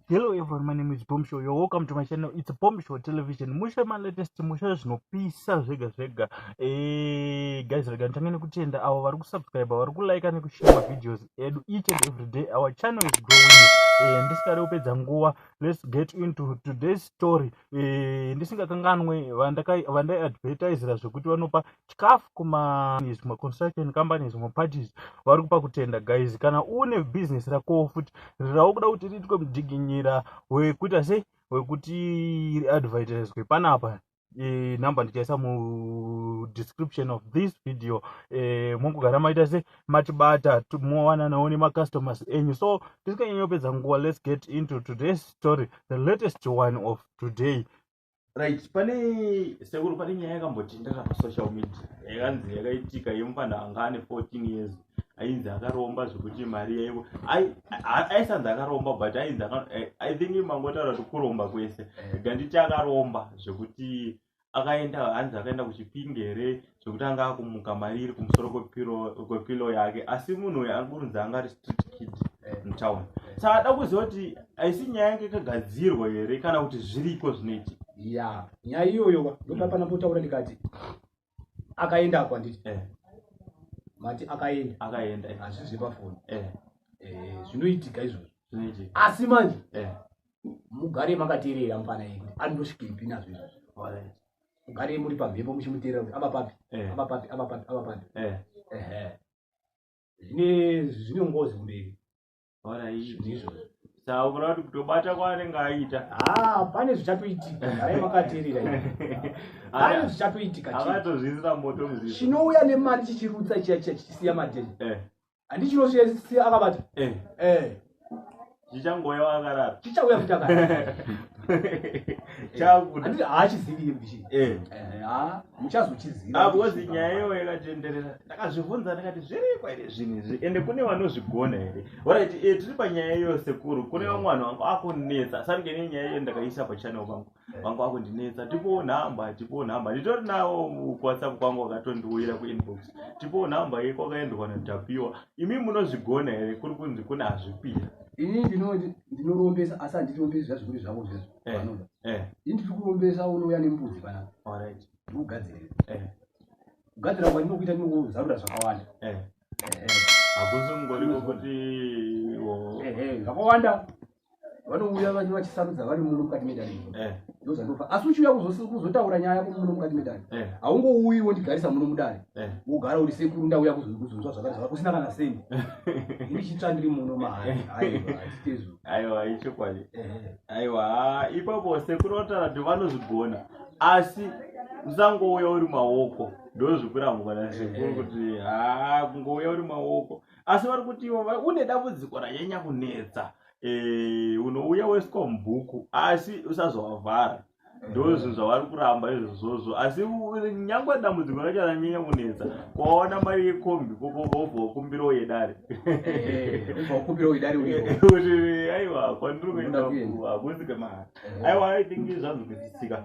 Hello everyone, my name is Bomb Show. You're welcome to my channel. It's Bomb Show Television. Musha my latest musha zvinopisa zvega zvega. Eh, guys, rega ntange nekutenda avo vari kusubscribe, vari kulike nekushare ma videos edu each and every day. Our channel is growing. Eh, ndisingade kupedza nguva. Let's get into today's story. Eh, ndisingakanganwe vandai advertisera zvekuti vanopa chikafu kumazvimwe construction companies zvimwe parties vari kupa kutenda guys kana une business rakowo futi rirawo kuda kuti riitwe mudziginyira wekuita sei wekuti riadvertiswe panapa e, number ndichaisa mudescription of this video e, mongogara maita se matibata mowananawo nemacustomers enyu so tisikanyanyopedza nguva let's get into today's story the latest one of today right pane sekuru pane nyaya yakambotendera pasocial media yakanzi yakaitika yemupanda anga ane 14 years ainzi akaromba zvekuti mari yaivo aisanzi akaromba but ainzi eh, i think mangotaura kuti kuromba kwese eh. ganditi akaromba zvekuti akaenda hanzi akaenda kuchipingi here zvekutanga akumuka mari iri kumusoro kwepilo yake asi munhu uyu ari kurunzi anga ari street kid eh. mutown saka ada kuziva kuti haisi nyaya yange ikagadzirwa here kana kuti zviriko zvinoiti ya nyaya iyoyo ndoda pana potaura ndikati akaenda ako anditi eh. mati akaenda akaenda eh. hazvizve pafoni zvinoitika izvozvo asi manje mugare makateerera mufana yedu anondosvikepi nazvo izvozvo mugarei muri pamhepo muchimuteerera kuti ava papi eh. ava papi ava papi ava papi eh. zvine zvine ngozi kumberi izvozvo saura kuti kutobata kwaanenge aita ah, pane zvichatoitika arai makateerera pane zvichatoitika avatozviisira moto chinouya nemari chichirutsa chiya chiya chichisiya madeni eh. handichino chesi akabata eh. eh. chichangouya wakarara chichauya kuti akarara chakuti haachizivi bishi eh. eh, muchazochiziva ah, because nyaya iyo yakatenderera ndakazvibvunza ndikati zvirikwa here zvinhu izvi ende kune vanozvigona here orit eh, tiri panyaya iyo sekuru kune vamwe vanhu vanga akunetsa sange nenyaya iyo ndakaisa pachannel pangu vanga vakundinetsa tipowo nhamba tipowo nhamba nditori nawo kuwhatsapp kwangu wakatondiuyira kuinbox tipowo nhamba ye kwakaendwa natapiwa imi munozvigona here kuri kunzi kune hazvipira ini ndinoti ndinorombesa asi handirombesi zvazvikuri zvavo zvizvo Eh, vanoda eh, ini ndiri kurombesa unouya nembudzi panapa all right, ndikugadzirira eh, kugadzira kwandinokuita ndinozarura zvakawanda eh. Ehe. hakusi kungoriko kuti wo- Ehe, zvakawanda vanouya vanenge vachisarudza vari muno mukati medare eh. ndozvandofa asi uchiuya kuzotaura nyaya yako muno mukati medare eh. haungouyi wondigarisa muno mudare eh. wogara uri sekuru ndauya kuzonzwa zvakati zvaka kusina kana seni ini chitsva ndiri muno mahaaiwaazitezvo aiwa ichokwadi aiwa ipapo sekuru vataura kuti vanozvigona asi usangouya uri maoko ndozvikuramukana sekuru kuti haa kungouya uri maoko asi vari kuti ivo une dambudziko ranyanya kunetsa eh, unouya weswa mubhuku asi usazovavhara ndozvo zvavari kuramba izvozvozvo asi nyangwe dambudziko racho ranyanya kunetsa kwaona mari yekombi vobva wakumbira uyedare aiwa kwandiri kuenda hakuzi kemari aiwa aithingi zvanzwikisisika